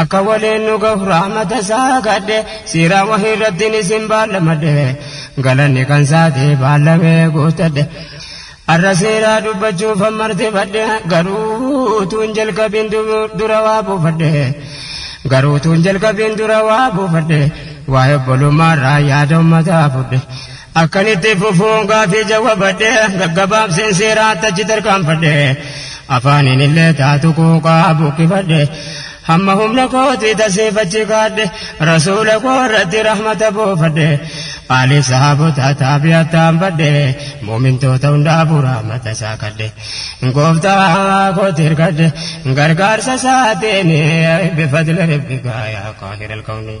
Akka waliin nu gahu rahmata isaa kadhe siira wahii irrattiin isin baallamadhe galanni kan isaati baallamee guutadhe arra siiraa dubbachuuf hammartifadhe garuu tuun jalqabiin dura waa buufadhe garuu tuun jalqabiin dura waa buufadhe waa'ee obbolummaarraa yaada ummataa fudhe Akkan itti fufu gaafii jawwabadhe gaggabaabseen seeraatti achi tarkaanfadhe afaaniin illee taatu quuqaa buqqifadhe hamma humna kootii tasiif achi kaadhe rasuula koo irratti rahmata buufadhe aaliif sahaabotaa taabi'attaan badhe mu'mintoota hundaafuu rahmata isaa kadhe gooftaa kootti hirkadhe gargaarsa isaatiin bifadli rabbikaa yaa qaahira alkawnii.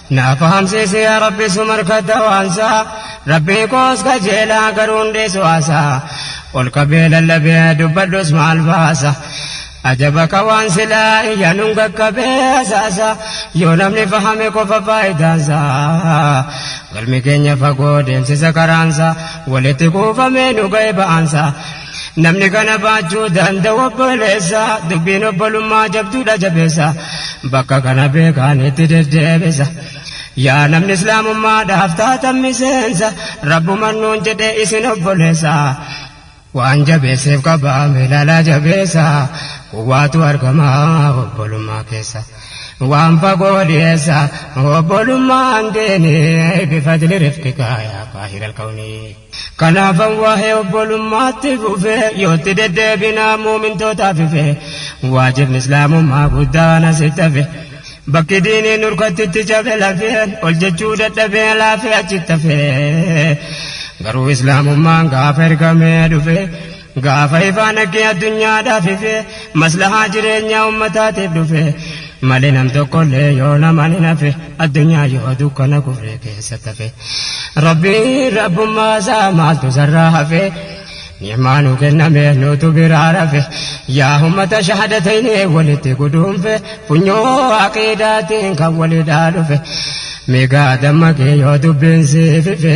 Na fahamsiisi yaa Rabbi sumarkata waansaa Rabbii koos kajeelaa garuu hundeessu haasaa Ol qabee lallabee dubbadhus maal baasa Ajaba ka waan silaa iyya nun qaqqabee hasaasa Yoo namni fahame qofa faayidaansaa Galmi keenya fagoo deemsisa karaansaa Walitti kuufamee nu ga'e ba'aansaa Namni kana baachuu danda'u obboleessa dubbiin obbolummaa jabduudha jabeessa bakka kana beekaan itti deddeebisa yaa namni islaamummaadhaaf taatan miseensa rabbuman nuun jedhe isin obboleessa waan jabeesseef qabaame ilaalaa jabeessa quwwaatu argama obbolummaa keessa waan fagoo dhiyeessa obbolummaan deene bifadli rifqika yaa kaahir alkawnii Kanaafan waa'ee obbolummaatti fufe yoo itti deddeebinaa muumintootaaf ife waajibni islaamummaa guddaan asitti hafe bakki diinii nurkatti itti cabe lafeen ol jechuu dadhabee laafee achitti hafe garuu islaamummaan gaafa ergamee dhufe Gaafa ifaa nagge addunyaadhaaf ife, maslahaa jireenyaa ummataatiif dhufe, mali nam tokkollee yoo naman hin hafe, addunyaa yoo dukkana kufree keessa tafe. Rabbiin rabbummaa isaa maaltu isarraa hafe, ni'maa nuu kenname nuutu biraa rafe, yaa ummata shahadatayni walitti guduunfe, funyoo aqiidaatiin kan walidhaa dhufe, mee gaa dammaqi yoo dubbiin siif ife,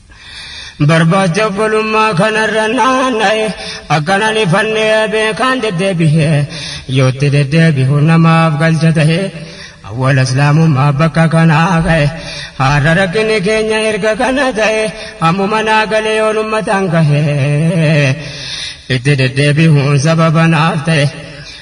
Barbaacha obbolummaa kanarra naanna'e akkanan ifannee beekaan deddeebi'e yootti deddeebi'u namaaf galcha ta'e awwala islaamummaa bakka kanaa ka'e har'a rakkinni keenya erga kana ta'e hammuma naa galee yoon ummataan gahe itti deddeebi'uun sababa naaf ta'e.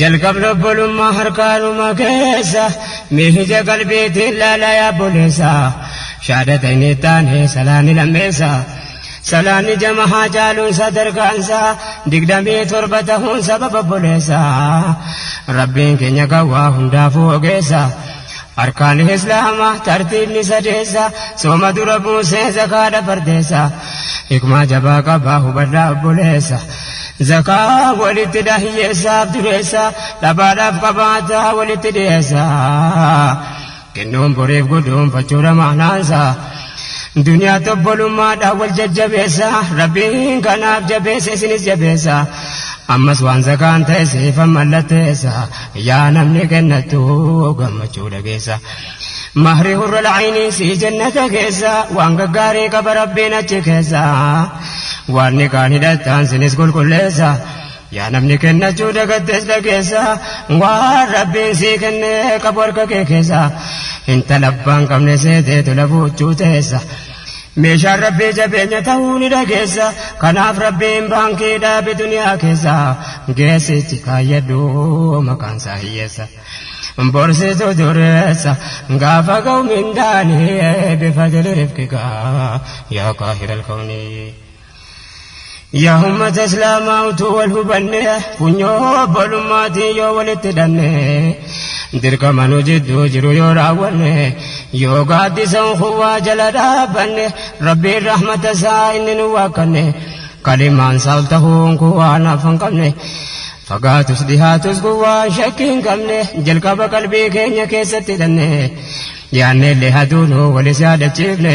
jalqab lobbolummaa harkaanuma keessa miija qalbiitiin laala yaa buleessa shaadata inni taane salaanni lammeessa salaanni jama haa caaluun sadarkaansa digdamii torba tahuun sababa buleessa rabbiin keenya gawwaa hundaafuu ogeessa Arkaan Islaama tartiibni sadeessa Sooma dura buusee zakaadha fardeessa Hikmaa jabaa qaba hubadhaa obboleessa Zakaa walittidha hiyyeessaaf dureessa Dhabaadhaaf qabaataa walitti dhiyeessa Kennuun boriif guduunfachuudha maanaansa Duniyaatti obbolummaadhaan wal jajjabeessa Rabbiin kanaaf jabeessa isinis jabeessa Ammas waan zakaan ta'e siifan mallatteessa yaa namni gannattu gammachuu dhageessa mahri hurra la'ayinii si jannata keessa waan gaggaarii qaba rabbiin achi keessa waan ni kaan hidhattaan sinis qulqulleessa yaa namni kennachuu dagattes dhageessa waan rabbiin sii kenne qabu harka kee keessa intala abbaan qabne seeteetu lafuuchuu teessa Meeshaan Rabbii jabeenya ta'uu ni dhageessa. Kanaaf Rabbiin baankii dhaabi duniyaa keessa. Geessichi kaayyadhu maqaan isaa hiyyeessa. Borsitu dureessa gaafa ga'u mindaani bifadili rifqika yaa qaahiral kawni. Yaa ummata islaamaa utuu wal hubanne funyoo obbolummaatiin yoo walitti hidhanne dirqama nu jidduu jiru yoo raawwanne yoo gaaddisa unkuwwaa jala dhaabbanne rabbiin rahmata isaa inni nu waakkanne kalimaan isaa ol tahuun kun waan hafa hin qabne fagaatus dhihaatus kun waan shakkii hin qabne jalqaba qalbii keenya keessatti hidhanne yaanneellee haduunuu walis yaadachiifne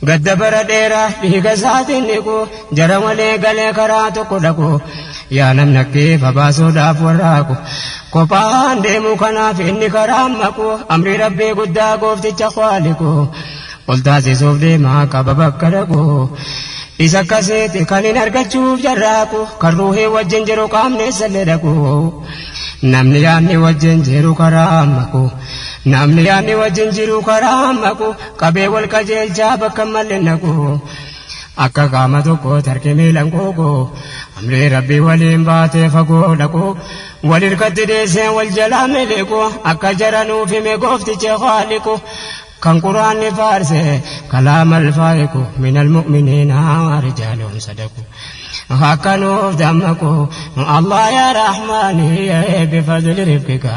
Gadda bara dheeraa dhiiga isaatiin dhiqu, jara walii galee karaa tokko dhaqu, yaa namni akki ifa baasuudhaaf warraaqu, kophaan deemuu kanaaf inni karaan maqu, amrii Rabbii guddaa goofticha khaaliqu, ol taasisuuf deema qaba bakka dhaqu, isa akkasiiti kan hin argachuuf carraaqu, kan ruuhii wajjin jiru qaamni issallee dhaqu, namni yaadni wajjin jiru karaan maqu, namni yaadni wajjin jiru karaan maqu, Qabee wal qajeelchaa bakka hin malle naqu. Akka qaama tokkootti harki miilan quuqu. Amrii Rabbii waliin baatee fagoo dhaqu. Wal hirkatti dheesseen wal jalaa miliqu. Akka jara nuuf hime gooftichi khaaliqu. Kan quraanni faarse kalaama alfaa'iqu. Minal mu'miniina rijaalun sadaqu. Akka nuuf dammaqu. Allah yaa Rahmaani bifadli rifqika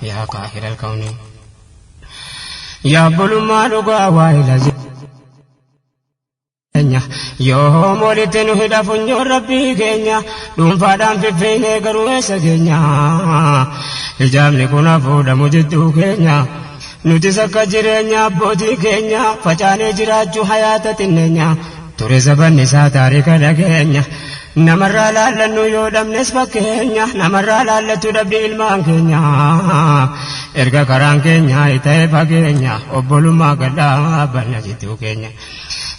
yaa qaahiral kawni. Yaa bulummaa dhugaa waayila jireenya yoo hoom walitti nu hidha funyoon rabbii keenya dhuunfaadhaan fiffiinee garuu eessa keenya hijaabni kun hafuudhamu jidduu keenya nutis akka jireenya abbootii keenya facaanee jiraachuu hayaata xinneenya ture zabanni isaa taarika dhageenya Namarraa laallannu yoo dhabnes fakkeenya namarraa laallattu dhabdi ilmaan keenya erga karaan keenya ta'e fageenya obbolummaa gadhaabanna jidduu keenya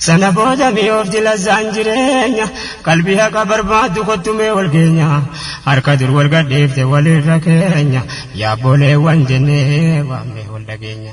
sana booda mi'oofti lazzaan jireenya qalbii haqa barbaaddu kottumee wal keenya harka dur wal gadhiifte walirra keenya yaabbooleewwan jennee waamnee wal dhageenya.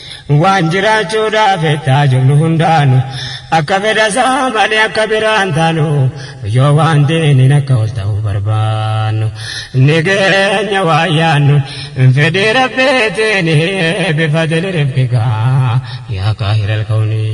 Waan jiraachuudhaaf ittaa jirru hundaanu akka fedha isaa malee akka biraan taanu yoo waan diiniin akka ol ta'u barbaannu ni geenya waan yaannu fedhii rabbiitiin bifa dilirifkigaa yaa kaahira alkawnii.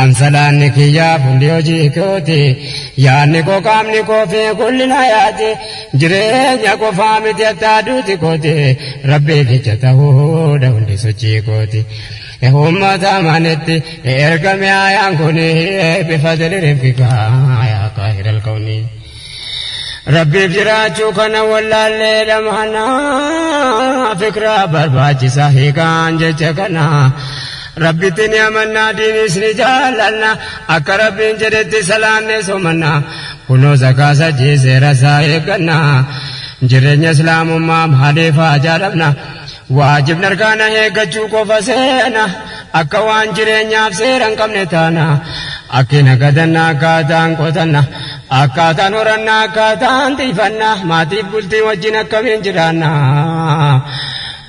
An salaanni kiyya fuulli hojii kooti yaadni koo qaamni koo fi gullina yaati jireenya qofaa miti attaa duuti kooti rabbii kicha ta'uudha hundi sochii kooti. Uummata amanitti ergame ayaan kuni bifa diriirfika yaa kaahira alkawnii. Rabbiif jiraachuu kana wallaallee dhamana fikraa barbaachisa hiikaan jecha kana rabbitti ni amannaa diinis ni jaallanna akka rabbiin jedhetti salaanne somanna kunoo zakaa sajjii seera isaa eegganna jireenya islaamummaa maaliif haa jaalamna Waajibni arkaana eeggachuu qofa seena. Akka waan jireenyaaf seera hin qabne taana. Akki nagadanna akkaataan qotanna. Akkaataan horannaa akkaataan tiifanna. Maatiif bultii wajjin akkamiin jiraanna.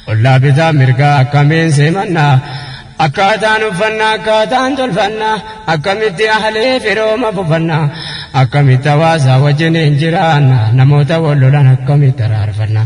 Ollaa bitaa mirgaa akkamiin simanna. Akkaataan uffanna akkaataan tolfanna. Akkamitti ahlee firooma fufanna. Akkamitti hawaasaa wajjin hin jiraanna. Namoota wal lolan akkamitti araarfanna.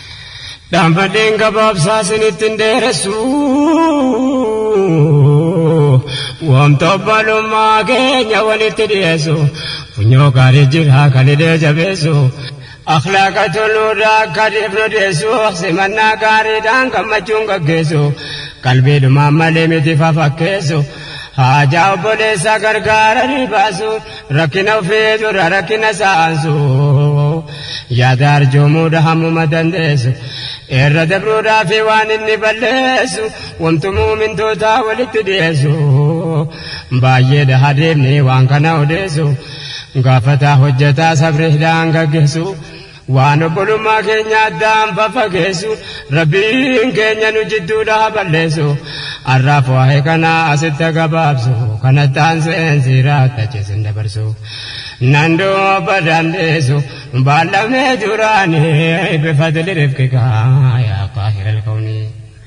Dhaanfadheen gabaabsaa sinitti hin dheeressu Wamta obbalummaa keenya walitti dhiyeessu Funyoo gaarii jira kan hidhee jabeessu Akhlaaqa toluurraa akka dhiifnu dhiyeessu Simannaa gaariidhaan gammachuun gaggeessu Qalbiidhumaan malee miti fafakkeessu Haajaa obboleessaa gargaaranii baasuun Rakkina ofii dura rakkina saansu yaada arjoomuudha hammuma dandeessu irra dabruudhaa fi waan inni balleessu wamtu muumintootaa walitti dhiyeessu baay'eedha hadeemni waan kana odeessu gaafataa hojjetaa sabri hidhaan gaggeessu. Waan obbolummaa keenya addaan faffageessu Rabbiin keenya nu jidduudha ha balleessu Arraaf waa'ee kana asitti ha gabaabsu Kanatti aanseen siiraa tachi sin dabarsu Nan duuba dandeessu baallamnee duraanii Bifadli rifqika yaa qaahira alkawnii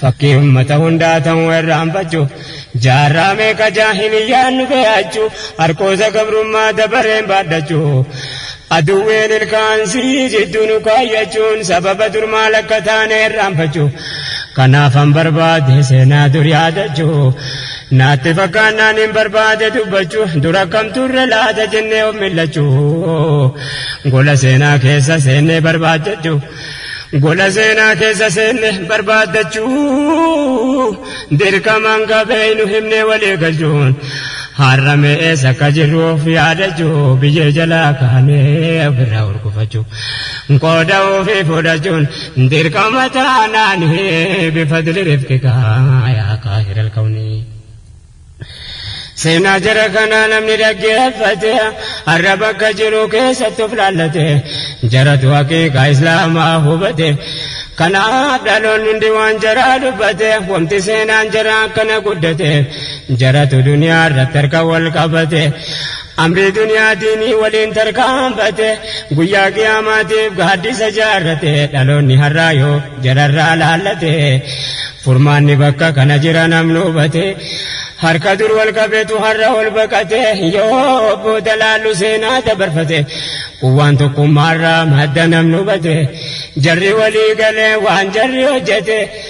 Fakkii ummata hundaa ta'uu irraanfachuu Jaarraa meeqa jaahiliyyaan nu bee'achuu Harqoosa gabrummaa dabareen baadhachuu Aduwwiin ilkaan sii jidduu nu kaayyachuun Sababa dur maal akka taane irraanfachuu Kanaafan barbaade seenaa dur yaadachuu Naatti fakkaannaan hin barbaade dubbachuu Dur akkam turre laata jennee of mil'achuu Gola seenaa keessa seennee barbaadachuu Gola seenaa keessa seenne barbaaddachuu dirqamaan qabeeynu himnee walii galchuun har'a mee eessa akka jirru of yaadachuu biyyee jalaa kaanee ofirraa hurgufachuu qooda ofii fudhachuun dirqama taanaan bifadli rifqikaa yaa kaahir alkawnii. Seenaa jara kanaa namni dhaggeeffate har'a bakka jiru keessatti of laallate jaratu haqiiqaa islaamaa hubate kanaaf dhaloonni hundi waan jaraa dubbate wanti seenaan jaraa akkana guddate jaratu duniyaa irratti harka wal qabate Amrii duniyaa diinii waliin tarkaanfate Guyyaa qiyaamaatiif gaaddisa jaarrate Dhaloonni har'aa yoo jararraa laallate Furmaanni bakka kana jira namni hubate Harka dur wal qabetu har'a ol baqate Yoo booda laallu seenaa dabarfate Quwwaan tokkummaarraa madda namni hubate Jarri walii galee waan jarri hojjate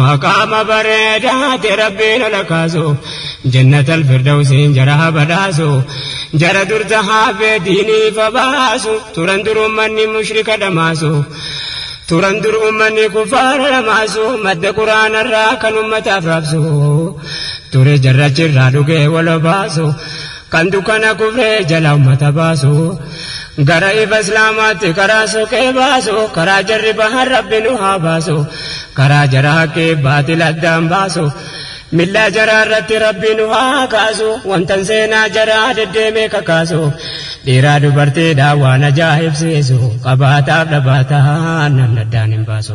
Maqaama bareedaati rabbiin ala kaasu jannata alfirdawsiin jara haa badhaasu jara durta haafee diiniif habaasu turan dur ummanni mushrika dhamaasu turan dur ummanni kuffaara dhamaasu madda quraanarraa kan ummataaf raabsu ture jarrachirraa dhugee wal obaasu Kan dukkana kufree jala ummata baasu Gara ifa islaamaatti karaa soqee baasu Karaa jarri bahan rabbi nu haa baasu Karaa jara haqqii baatil addaan baasu Millaa jaraa irratti rabbi nu haa kaasu Wantan seenaa jaraa deddeemee kakaasu Dhiiraa dubartiidhaa waan ajaa'ibsiisu Qabaataaf dhabaataan namni addaan hin baasu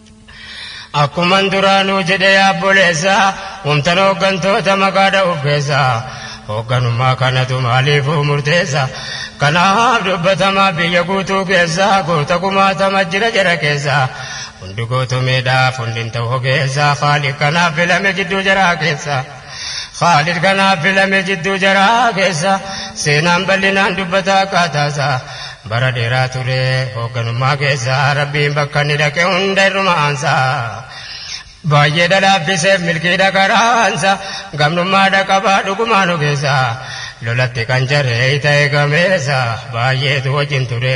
Akkuman duraanuu jedhe yaa obboleessa, wamtan hooggantoota maqaa dha'uuf keessa, hoogganummaa kanatu maaliifuu murteessa, kanaaf dubbatamaa biyya guutuu keessa, goota kumaatama jira jara keessa, hundi gootomeedhaaf hundi hin ta'u ogeessa, Khaaliq kanaaf filame jidduu jaraa keessa. Khaalid kanaaf filame jidduu jaraa keessa seenaan bal'inaan dubbata akkaataasaa bara dheeraa ture hoogganummaa keessa rabbiin bakka inni dhaqe hunda irruma aansa baay'ee dhalaaffiseef milkii dhaqaraansa gamnummaa dhaqabaa dhugumaan ogeessa lolatti kan jaree ta'e gameessa baay'eetu wajjin ture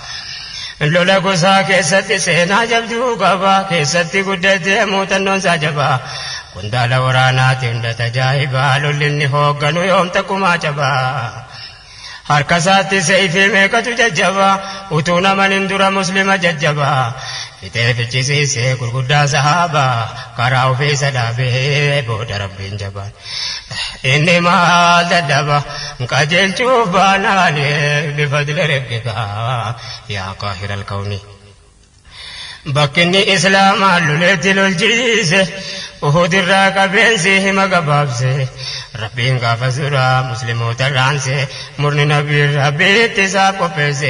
Lola gosaa keessatti seenaa jabduu qaba. Keessatti guddatee muuxannoon isaa jabaa. Qondaala waraanaati hunda tajaajibaa. Lolli inni hoogganu yoom takkumaa cabaa. Harka isaatti seeyfii meeqatu jajjabaa. Utuu naman hin dura muslima jajjabaa. Fixee fichisiise gurguddaa sahaabaa karaa ofiisa dhaabee booda rabbiin jabaan inni maal dadhaba qajeelchuuf baanaan bifadli rabbikaa yaa qaahira alkawni bakkinni islaamaa loleetti lolchiise uhudirraa qabeensi hima gabaabse rabbiin gaafas duraa muslimootarraanse murni nabiin rabbii ittisaaf qopheesse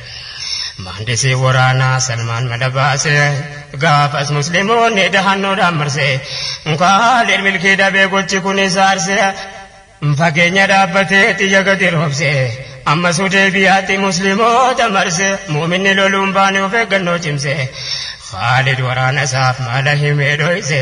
Maandisii waraanaa Salmaan Madabaase gaafas musliimoonni dahannoodhaan marse Kaalid milkii dhabee gochi kun isa arse Fageenya dhaabbatee xiyya gadi roobse Ammas Hudeybiyaatti musliimoota marse Muuminni loluun baane of eeggannoo cimse Kaalid waraana isaaf mala himee dhoyse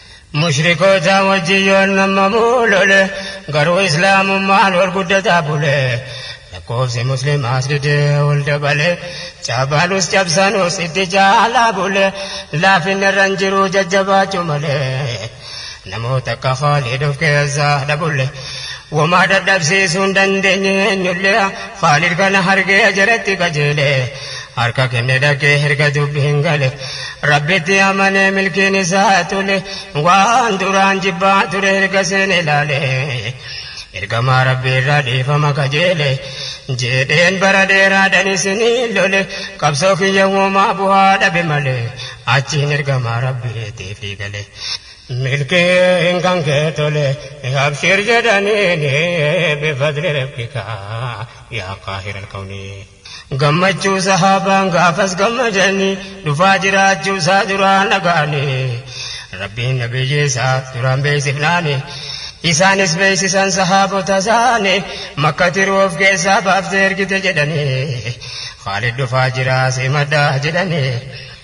Mushrikootaa wajjin yoon mammamu lole, garuu Islaamummaan ol guddataa bule. Lakkoofsi Muslimaas didee ol dabale, caabaanus cabsanus itti caalaa bule. Laafinni irra hin jiru jajjabaachuu malee, namoota akka Khaaliid of keessaa dhabulle. Womaa dadhabsiisuu hin dandeenye eenyulle, Khaaliid kana argee jaratti qajeele. harka kenne dhaqee erga dubbiin gale rabbitti amanee milkiin isaa tole waan duraan jibbaa ture erga seene ilaale ergamaa rabbii irraa dhiifama kajeele jedheen bara dheeraadhan isinii lole qabsoo kiyya uumaa bu'aa dhabe malee achiin ergamaa rabbiitiif gale milkiin kan kee tole abshir jedhaniin bifadli rabbikaa yaa qaahir alkawniin Gammachuu Sahaabaan gaafas gammadanii dhufaa jiraachuu isaa duraan dhaga'anii Rabbiin Nabiyyi isaa duraan beeksifnaani isaanis beeksisan sahaabota isaani Makkati ruuh of keessaa baaftee ergite jedhanii Khaalid dhufaa jiraa simadhaa jedhanii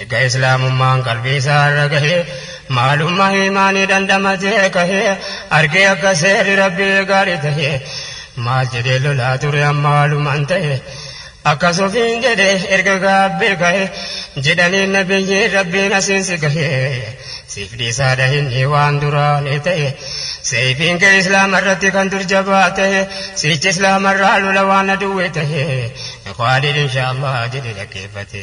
Erga Islaamummaan qalbii isaa irra gahee, maalummaa iimaanii dhandhamatee kahee, argee akka seerri Rabbii gaarii tahe, maal jedhee lolaa ture amma walumaan tahe. Akkas ofiin jedhe erga gaabbee kahe, jedhaniin Nabiyyiin Rabbiin asiin si gahe. Siif dhiisaa dhahinni waan duraa ni tahe. Seeyfiin kee Islaama irratti kan dur jabaa tahe, siichi Islaama irraa lola waan aduwwii tahe. Khaalid inshaa Allah jedhe dhaggeeffate.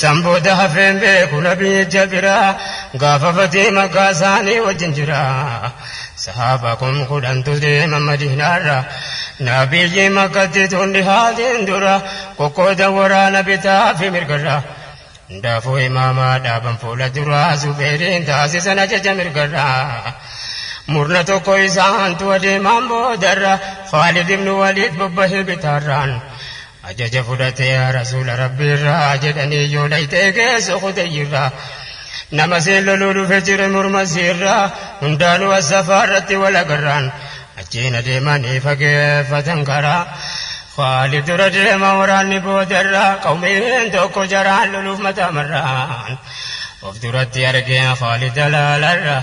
San booda hafeen beeku nabii ija bira gaafa fatee makkaa isaanii wajjin jira sahaaba kum kudhantu deema madiinaarra nabiyyii makkatti tun dhihaatiin dura qoqqooda waraana bitaa fi mirgarra hundaafuu imaamaa dhaaban fuula duraa zubeeriin taasisan ajaja mirgarra murna tokko isaantu adeemaan boodarra khaalid ibnu waliid bobbahee bitaarraan Ajaja fudhate yaa Rasuula Rabbiirraa jedhanii yoo dhayxe geessu Hudayyirraa. Nama siin loluu dhufe jire morma siirraa hundaanuu As-Safaarratti wal agarraan. Achiin adeemanii fageeffatan karaa. Khaalid dura deema waraanni boodarraa qawmiin tokko jaraan loluuf mataa marraan. Of duratti argeen Khaalid alaalarraa.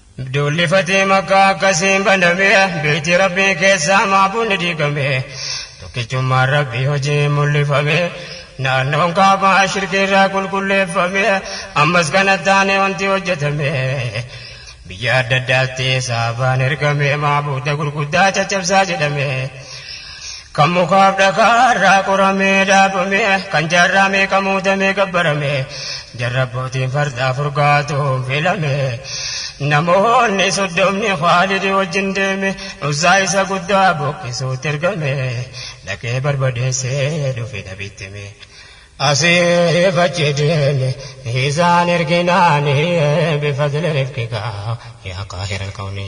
Duulli fatee makkaa akkasiin baname beeyti rabbii keessaa maabuunni diigame tokkichummaan rabbii hojiin mul'ifame naannoon kaabaa shirkiirraa qulqulleeffame ammas kana taane wanti hojjetame biyya adda addaatti saabaan ergame maabuuda gurguddaa caccabsaa jedhame. Kan mukaaf dhakaa irraa qoramee dhaabame, kan jaarraa meeqa muudamee gabbarame, jarra abbootiin fardaa furgaatuun filame. Namoonni soddomni Khaalidi wajjin deeme, Uzzaa isa guddaa buqqisuutti ergame, dhaqee barbadeessee dhufe nabitti hime. Asiif achi deeme isaan erginaani, bifadli rifqika yaa qaahira alkawni.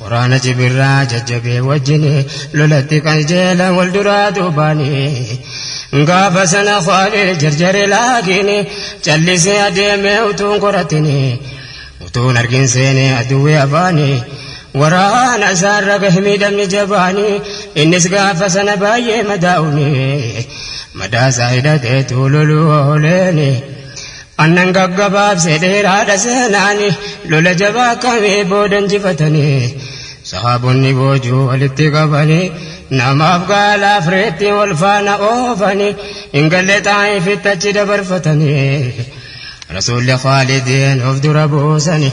Waraana cibirraa jajjabee wajjin lolatti qajeelan wal duraa duubaani. Gaafa sana Khaaliid jarjare laakiin callisee adeemee utuun qoratini. Utuun argin seenee aduwwee afaani. Waraana isaarra gahe miidhamni jabaani. Innis gaafa sana baay'ee madaa'uuni. Madaa isaa hidhateetu loluu ooleeni. Annan gaggabaabse dheeraadha seenaani lola jabaa akkamii booda injifatanii sahaabonni boojuu walitti qabanii namaaf gaalaaf reettiin wal faana oofanii hin galle xaa'ifitti achi dabarfatanii rasuulli khaalidiin of dura buusanii.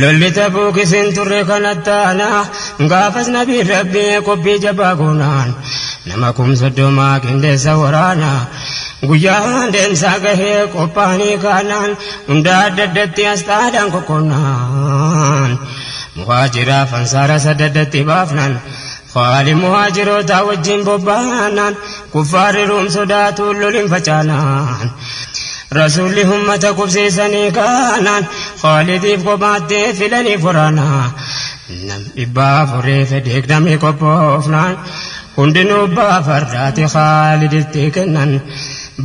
Lolli Tabuukis hin turre kan attaana. Gaafas Nabiin Rabbii qophii jabaa goonaan nama kum soddomaa qindeessa waraana. Guyyaan deemsaa gahee qophaa'anii kaanaan hunda adda addatti asxaadhaan qoqqoonnaan. Muhaajiraaf Ansaara sadda addatti baafnaan. Haali muhaajirootaa wajjin bobbaanaan kuffaarri ruum sodaatuun lolin facaanaan rasuulli ummata qubsiisanii kaanaan Khaalidiif kophaatti filanii furaanaa nam dhibbaa afurii fi digdamii qophoofnaan hundinuu abbaa fardaati Khaaliditti kennan.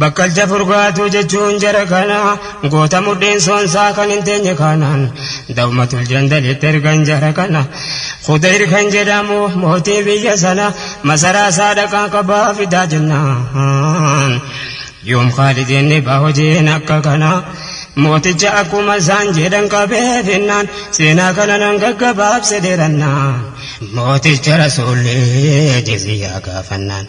Bakkalcha furgaatuu jechuun jara kana goota mudhiin soonsaa kan hin teenye kanaan dawmatul jandalitti ergan jara kana Khudayr kan jedhamu mootii biyya sana masaraa isaa dhaqaa qabaa fidaa jennaan yoom Khaalid inni ba hojiin akka kana mooticha akkuma isaan jedhan qabee finnaan seenaa kana nan gaggabaabse dheerannaan mooticha rasuullee jiziyyaa gaafannaan.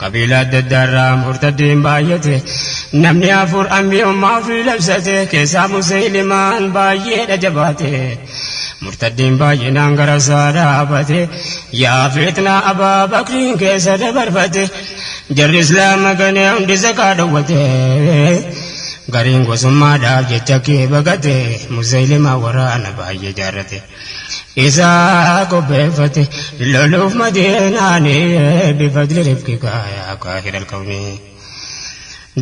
Qabiila adda addaa irraa murtaddiin baay'ate namni afur anbiyummaa ofii labsate keessaa musaylimaan baay'eedha jabaate murtaddiin baay'inaan gara isaa dhaabate yaa fitnaa abaa bakriin keessa dabarfate jarri islaama ganee hundi zakaa dhowwate gariin gosummaadhaaf jecha kee bagate musaylimaa waraana baay'ee jaarrate. isaa qopheeffate loluuf madiinaani bifadli rifqika yaa kaahir alkawni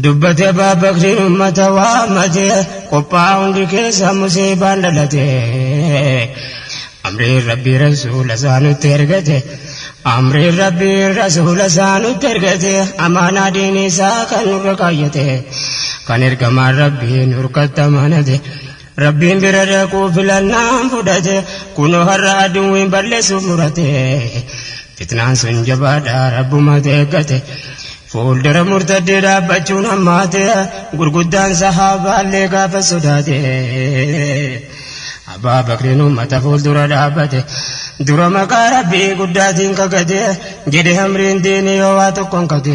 dubbate abbaa bakriin ummata waammate qophaa hundi keessa musiibaan dhalate amriin rabbii rasuula isaa nutti ergate amriin rabbii rasuula isaa nutti ergate amaanaa diinii isaa kan nurra kaayyate kan ergamaan rabbii nurkatta manate Rabbiin bira dhaquu filannaan fudhate kunoo har'a aduwwiin balleessuuf murate fitnaan sun jabaadha rabbumatu eeggate fuuldura murtaddee dhaabbachuun hammaate gurguddaan sahaabaallee gaafa sodaate abbaa bakriin ummata fuuldura dhaabbate dura maqaa rabbii guddaatiin kakate jedhe hamriin diinii yoo waa tokkoon kate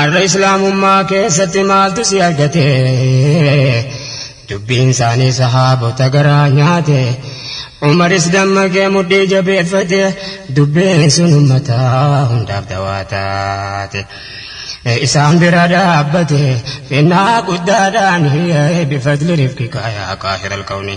Arra islaamummaa keessatti maaltu si argate dubbiin isaanii sahaabota garaa nyaate umaris dammaqee mudhii jabeeffate dubbiin sun ummataa hundaaf dawaa taate isaan bira dhaabbate finnaa guddaadhaan bifadli rifqika yaa qaahira alkawni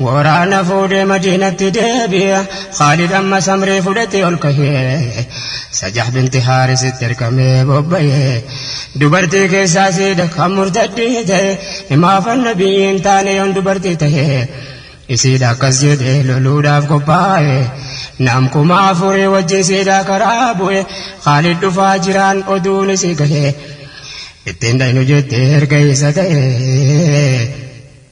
Waraana fuudhee Madiinatti deebi'e. Khaalid ammas amrii fudhatee ol kahee. Sajah binti Haarisitti ergamee bobba'e. Dubartii keessaa siidha kan murtaddii ta'e. Himaafan Nabiyyii hin taane yoon dubartii tahe. Isiidha akkas jedhee loluudhaaf qophaa'e. Nam kuma afurii wajjin siidhaa karaa bu'e. Khaalid dhufaa jiraan oduun isii gahe. Ittiin dhaynu jettee erga isa ta'e.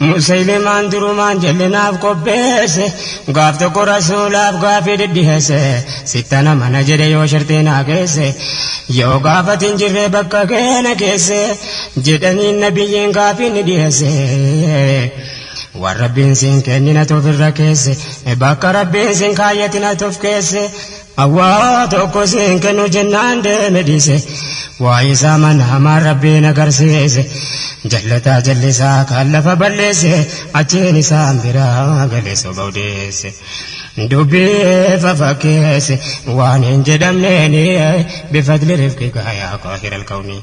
Musaylimaan durumaan jal'inaaf qopheesse gaaf tokko rasuulaaf gaafii dhidhiheesse sittana mana jedhe yoo shartee naa keesse yoo gaafati hin jirre bakka keena keesse jedhanii nabiyyiin gaafii ni dhiheesse waan rabbiin siin kennina tofirra keesse bakka rabbiin siin kaayyatina tof keesse Awwaa tokko siin kennu jennaan deeme dhiise waa isaa mana hamaan rabbiin agarsiise jallataa jallisaa kan lafa balleesse achiin isaan biraa galee soba odeesse dubbii fafakkeesse waan hin jedhamneeni bifadli rifqi gaayaa qaahir alkawnii.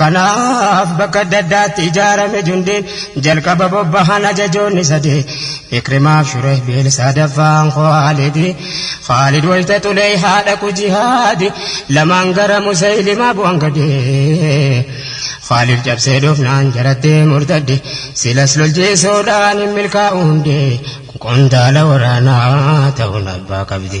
Kanaaf bakka adda addaatti ijaarame jundiin jalqaba bobbahan ajajoonni sadee Ikrimaaf Shureh Biil sadaffaan Khaalidi Khaalid wayta xulee haadha ku jihaadi lamaan gara Musaylimaa bu'an gadee Khaalid cabsee dhufnaan jarattee murtadde silas lolchiisuudhaan hin milkaa'u hundee qondaala waraanaa ta'uun abbaa qabdi.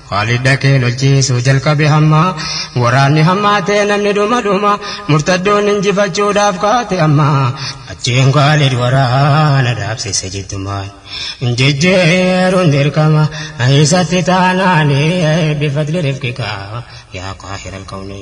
Kaalid dhaqee lolchiisuu jalqabe hamma waraanni hammaatee namni dhuma dhuma murtaddoon injifachuudhaaf kaate amma achiin Kaalid waraana dhaabsise jiddumaan jijjiiruun dirqama isatti taanaani bifadli rifqika yaa qaahira alkawni.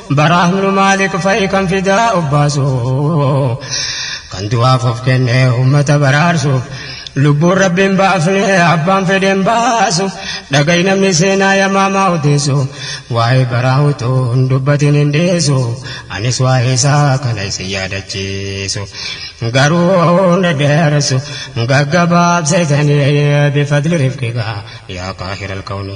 Baraa ibnu Maalik fa'i kan fidaa obbaasu kan du'aaf of kenne ummata baraarsuuf lubbuun rabbiin baafne abbaan fedheen baasu dhaga'i namni seenaa yamaamaa odeessu waa'ee baraa utuu hin dubbatin hin dhiisu anis waa'ee isaa kana isin yaadachiisu garuu na dheeressu gaggabaabseetanii bifadli rifqigaa yaa qaahira alkawni.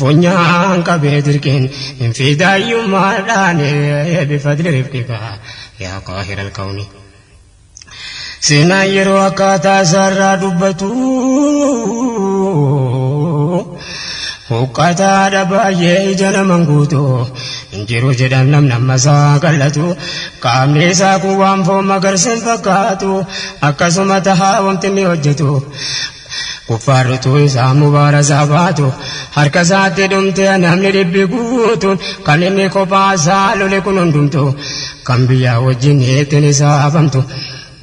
Funyaan qabee dirqiin fidaayummaadhaan bifadli rifqika yaa qaahira alkawni. Seenaan yeroo akkaataa isaarraa dubbatu huqqataadha baay'ee ija naman guutu hin jiru jedhan namni amma isaa qal'atu qaamni isaa kun waan foon magarsa hin fakkaatu akkasuma tahaa wanti inni hojjetu Kuffaarrituu isaa mubaarasaa baatu harka isaatti dhumte namni dhibbi guutuun kan inni kophaa isaa lole kun hundumtu kan biyyaa wajjin ittiin isaa hafamtu.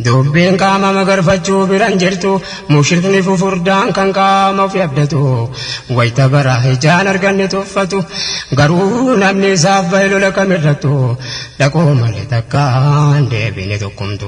Dubbiin qaama magarfachuu biran jirtu mushrikni fufurdaan kan qaama ofi abdatu wayita bara ijaan arganne tuffatu garuu namni isaaf bahe lola kamirrattu dhaqoo malee takkaan deebine tokkumtu.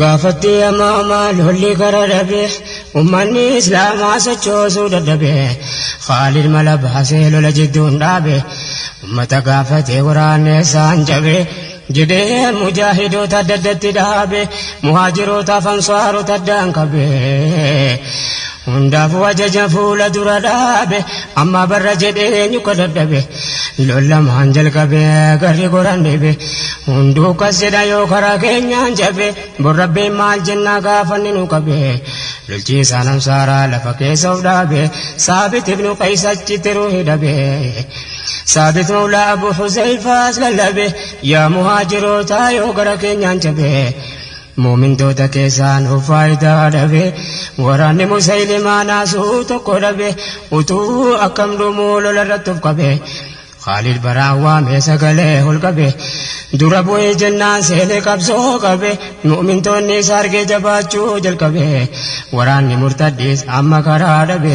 Gaafattii amaamaa lolli gara dhabe ummanni islaamaa sochoosuu dadhabe Khaalid mala baasee lola jidduun dhaabe ummata gaafatee waraanni isaan cabe jedhee mujaahidoota adda addatti dhaabe muhaajirootaaf ansaarota addaan qabe Hundaafuu ajaja fuula dura dhaabe amma barra jedhee eenyu ka dadhabe lol lamaan jalqabe garri goran dhibe hunduu kas jedha yoo karaa keenyaan jabe bor rabbiin maal jennaa gaafanni nu qabe lolchiisaa namsaaraa lafa keessa of dhaabe saabit ibnu qays achitti ruuhi dhabe saabit mawlaa abu huzeyfaas lallabe yaa muhaajirootaa yoo gara keenyaan jabe Mu'mintoota keessaanuu faayidaa dhabe. Waraanni Musaylimaa naasuu tokko dhabe. Utuu akkam dhumuu lola irratti of qabe. Khaalid baraan waamee sagalee ol qabe. Dura bu'ii jennaan seenee qabsoo qabe. Mu'mintoonni isa argee jabaachuu jalqabe. Waraanni murtaddiis amma karaa dhabe.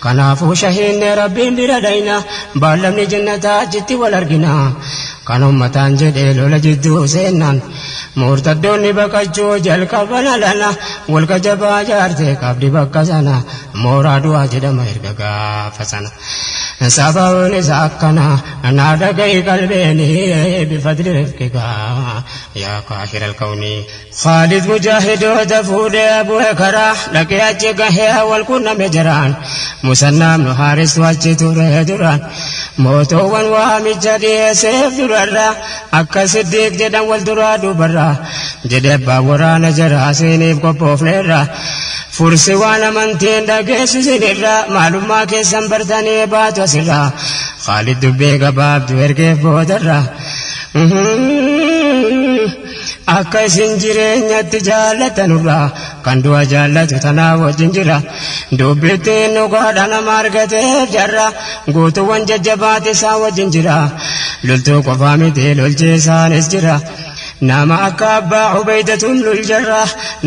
Kanaafuu shahiidne Rabbiin bira dhayna, baallamni jannataa achitti wal argina. Kan ummataan jedhee lola jidduu seennan, murtaddoonni baqachuu jalqaban alana, golga jabaa jaarte qabdi bakka sana, mooraa du'aa jedhama erga gaafa sana. Sababiin isaa akkana, naa dhaga'i qalbeeni, bifadli rifqika, yaa qaahiral kawni. Khaalid Mujaahid hoja fuudhee Abu Hekaraa dhaqee achi gahee wal qunname jaraan. Musannaa ibnu Haaristu achi ture duraan. Mootoowwan waamicha dhiyeesseef durarraa akka Siddiiq jedhan wal duraa duubarraa. Jedhe abbaan waraana jaraa siiniif qophoofneerraa. Fursi waan amantii hin dhageessu sinirraa maalummaa keessan bartanii baatu asirraa. Khaalid dubbii gabaabdu ergeef boodarraa. Akka isin jireenyatti jaallatanurraa kan du'a jaallatu tanaa wajjin jira. Dubbittiin dhugaadha nama argateef jarra guutuuwwan jajjabaatti isaan wajjin jira. Loltuu qofaa miti lolchiisaanis jira. Nama akka abbaa Ubeeydatun luljarra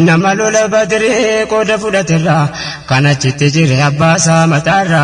nama lola badrii qooda fudhaterra kan achitti jire abbaasaa mataarra.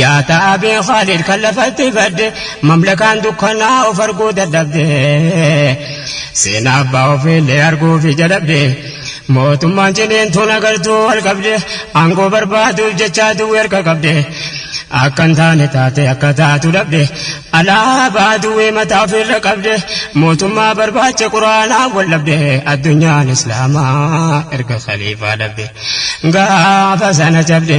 Yaa taabee Khaalid kan lafatti badde mamlakaan dukkanaa of arguu dadhabde seenaa abbaa ofiillee arguufi jalabde mootummaan ciniintuun agartuu wal qabde aangoo barbaaduuf jechaa duwwi harka qabde akka hin taane taate akka taatu dhabde alaabaa duwwii mataa ofiirra qabde mootummaa barbaacha quraanaa wal dhabde addunyaan islaamaa erga khaliifaa dhabde gaafa sana jabde.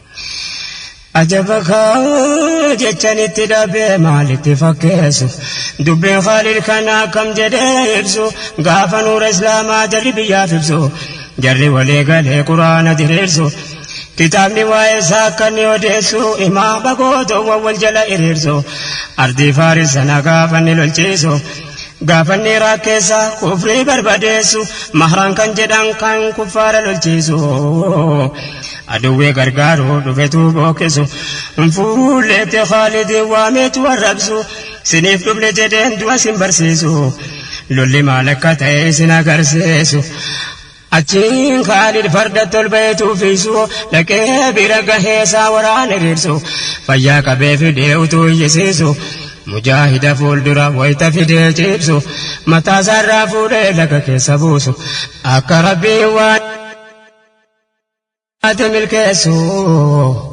Ajaba kaa jechan itti dhabee maalitti fakkeessu dubbiin Khaalid kana akkam jedhee ibsu gaafa nuura islaamaa jarri biyyaaf ibsu jarri walii galee quraana diriirsu kitaabni waa'ee isaa akka inni odeessu imaama gootoowwan wal jala hiriirsu ardii faaris sana gaafa inni lolchiisu gaafa inni Iraaq keessa kufrii barbadeessu mahraan kan jedhan kan kuffaara lolchiisu. Adawwee gargaaru dhufetuu bookesu Fuulleetti Khaalidii waameetu arrabsu Siniif dhufne jedheen du'a sin barsiisu Lolli maal akka ta'e isin agarsiisu Achiin Khaalid farda tolbayeetu fiisu Dhaqee bira gahee isaa waraana riirsu Fayyaa qabee fidee utuu iyyisiisu Mujaahida fuuldura wayta fidee ciibsu Mataasaarraa fuudhee laga keessa buusu Akka Rabbiin waan Ati milkeessu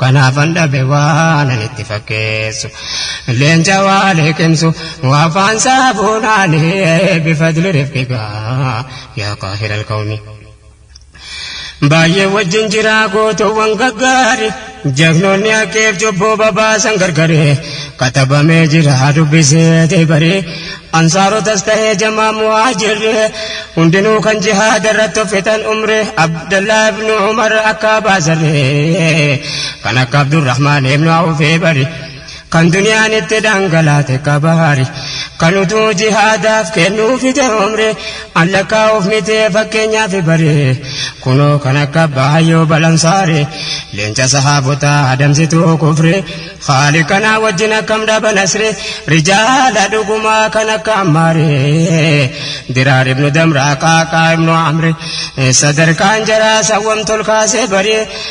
kanaafan dhabe waan ani itti fakkeessu leenca waa liqimsu afaan saabunaani bifadli rifqiga yaa qaahira alqawmi baay'ee wajjin jiraa gootoowwan gaggaari Jagnoonni haqeef cubbuu babaasan gargari katabamee jira dubbiseeti bari ansaarotas ta'ee jamaa muhaajirri hundinuu kan jihaada irratti uffitan umri abdallaa ibnu umar akka baasarri kan akka abdurrahmaan ibnu awfee bari kan duniyaan itti dhangalaate kabaari kan utuu jihaadaaf kennuu fite umri an lakkaa'uuf mitee fakkeenyaaf bare kunoo kan akka baay'oo balansaare leenca sahaabotaa adamsituu kufre haali kanaa wajjin akkam dhaba nasre rijaala dhugumaa kan akka ammaare diraar ibnu damraa qaaqaa ibnu amri sadarkaan jaraa sawwam tolkaasee baree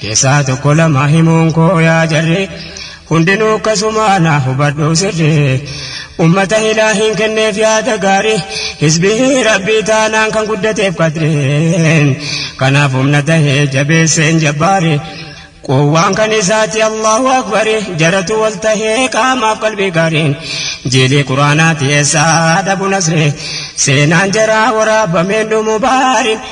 Keessaa tokko lama himuun koo yaa jarri hundinuu akkasumaa naa hubadhu sirri ummata hilaa hin kenneef yaada gaarii hizbii rabbii taanaan kan guddateef qadreen kanaaf humna tahee jabeesseen jabbaari quwwaan kan isaati allahu akbari jaratu wal tahee qaamaaf qalbii gaariin jiilii quraanaati eessaa dhabu nasree seenaan jaraa waraabameen dhumu baariin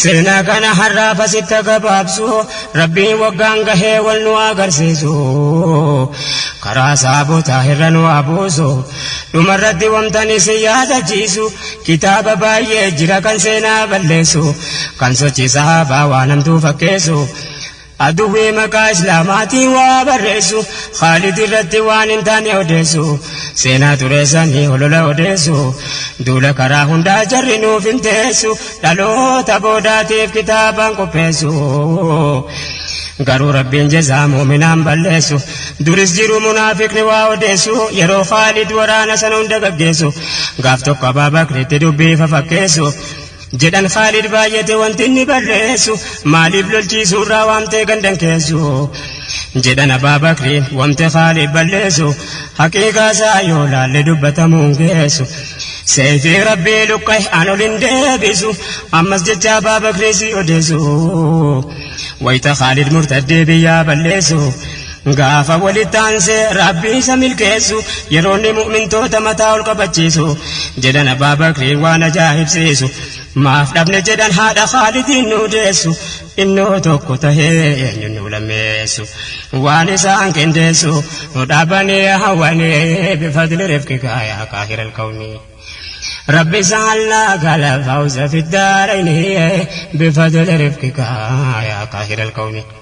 Seenaa kana har'aaf asitti gabaabsu rabbiin waggaan gahee wal nu agarsiisu karaa saabota irra nu abuusu dhumarratti wamtan isin yaadachiisu kitaaba baay'ee jira kan seenaa balleessu kan sochii sahaabaa waan hamtuu fakkeessu Adwui maqaa islaamaatiin waa barreessu Khaalid irratti waan hin taane odeessu Seenaa xureessanii holola odeessu Duula karaa hundaa jarri nuuf hin teessu Dhaloota boodaatiif kitaabaan qopheessu Garuu rabbiin jezaa muuminaan balleessu Duris jiru munaafiqni waa odeessu Yeroo Khaalid waraana sana hunda gaggeessu Gaaf tokko Abaabakritti dubbii fafakkeessu Jedhan Khaalid baay'ate wanti inni barreessu maaliif lolchiisuurraa waamtee gandan keessu jedhan Abaa Bakriin wamte Khaalid balleessu haqiiqaasaa yoo laalle dubbatamuun geessu seeyfii rabbii luqqa'e an ol hin deebisu ammas jecha Abaa Bakrii si odeessu wayita Khaalid murtaddee biyyaa balleessu Gaafa walitti aansee rabbiin isa milkeessu yeroonni mu'mintoota mataa ol qabachiisu jedhan abbaa bakriin waan ajaa'ibsiisu maaf dhabne jedhan haadha haalidiin nu deessu innoo tokko tahee eenyuun nu lammeessu waan isaan qindeessu dhaabanii hawwanii bifadli rifqika yaa qaahira alkawni rabbi isaan laa gala fawza fiddaarayni bifadli rifqika yaa qaahira alkawni